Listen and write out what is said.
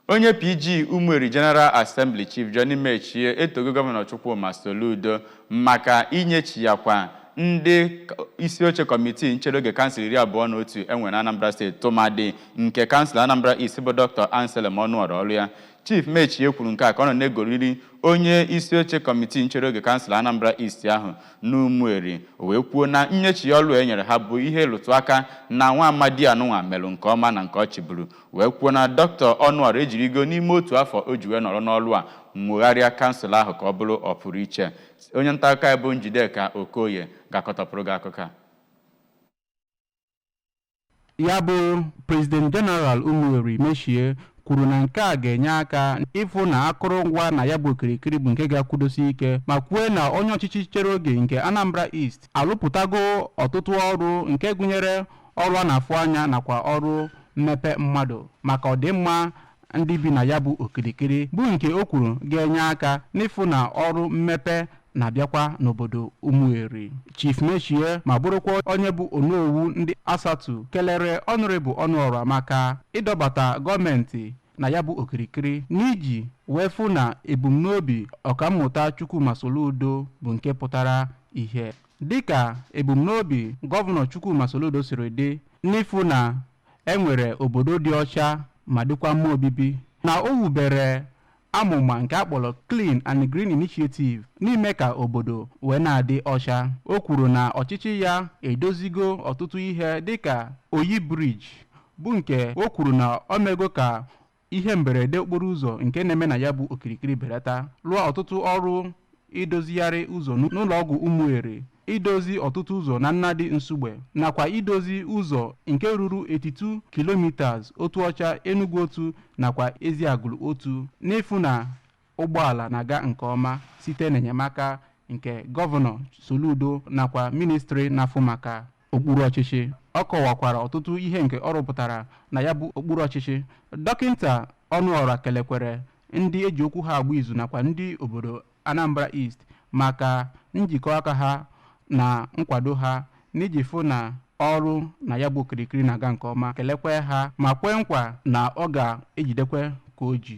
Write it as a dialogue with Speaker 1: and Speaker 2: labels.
Speaker 1: Onye PG Umueri General Assembly Chief Johnny Metchie etogo Gọvanọ Chukwuma Soludo maka inyechiyakwa ndị isi oche kọmitii nchere oge kansụl iri abụọ na otu enwe na Anambra steeti tụmadị nke kansụl Anambra East bụ Dr. Anselm Onuorah ọrụ ya Chief Metchie kwuru nke a ka ọ nọ na-egoriri onye isi oche kọmitii nchere oge kansụl Anambra East ahụ n'Umueri wee kwuo na nnyechi ọlụ e nyere ha bụ ihe lụtụ aka na nwa amadi anụnwa melụ nke ọma na nke ọ chịburu wee kwuo na dọkịta Onuorah ejirigo n'ime otu afọ o ji wee nọrọ n'ọlụ a nwogharịa kansụl ahụ ka ọ bụrụ ọpụrụ iche onye nta akụkọ anyị bụ Njideka Okoye ga-akọtọpụrụ gị akụkọ a
Speaker 2: ya bụ prezident jeneral Umueri Metchie kwuru na nke a ga-enye aka ịfụ na akụrụngwa na ya bụ okirikiri bụ nke ga-akwụdosi ike ma kwuo na onye ọchịchị nchere oge nke Anambra East alụpụtago ọtụtụ ọrụ nke gụnyere ọrụ a na-afụ anya nakwa ọrụ mmepe mmadụ maka ọdịmma ndị bi na ya bụ okirikiri bụ nke o kwuru ga-enye aka n'ịfụ na ọrụ mmepe na-abịakwa n'obodo Umueri Chief Metchie ma bụrụkwa onye bụ onowu ndị ASATU kelere Honourable Onuorah maka ịdọbata gọọmenti na ya bụ okirikiri n'iji wee fụ na ebumnobi ọkammụta Chukwuma Soludo bụ nke pụtara ihe Dịka ebumnobi Gọvanọ Chukwuma Soludo siri dị n'ịfụ na e nwere obodo dị ọcha ma dịkwa mma obibi, na o wubere amụma nke a kpọrọ Clean and Green Initiative n'ime ka obodo wee na-adị ọcha. O kwuru na ọchịchị ya edozigo ọtụtụ ihe dịka Oyi Bridge bụ nke o kwuru na o mego ka ihe mberede okporo ụzọ nke na-eme na ya bụ okirikiri belata lụọ ọtụtụ ọrụ idozigharị ụzọ n'ụlọ ọgwụ Umueri idozi ọtụtụ ụzọ na Nnadi Nsugbe nakwa idozi ụzọ nke ruru 82 kilometers Otuocha Enugwu Otu nakwa Eziagulu Otu n'ịfụ na ụgbọala na-aga nke ọma site n'enyemaka nke gọvanọ soludo nakwa ministri na-afụ maka okpuru ọchịchị ọ kọwakwara ọtụtụ ihe nke ọ rụpụtara na ya bụ okpuru ọchịchị dọkịta Onuorah kelekwere ndị eji okwu ha agba izu nakwa ndị obodo anambra east maka njikọ aka ha na nkwado ha n'iji fụ na ọrụ na ya bụ okirikiri na-aga nke ọma kelekwe ha ma kwee nkwa na ọ ga-ejidekwe ka o ji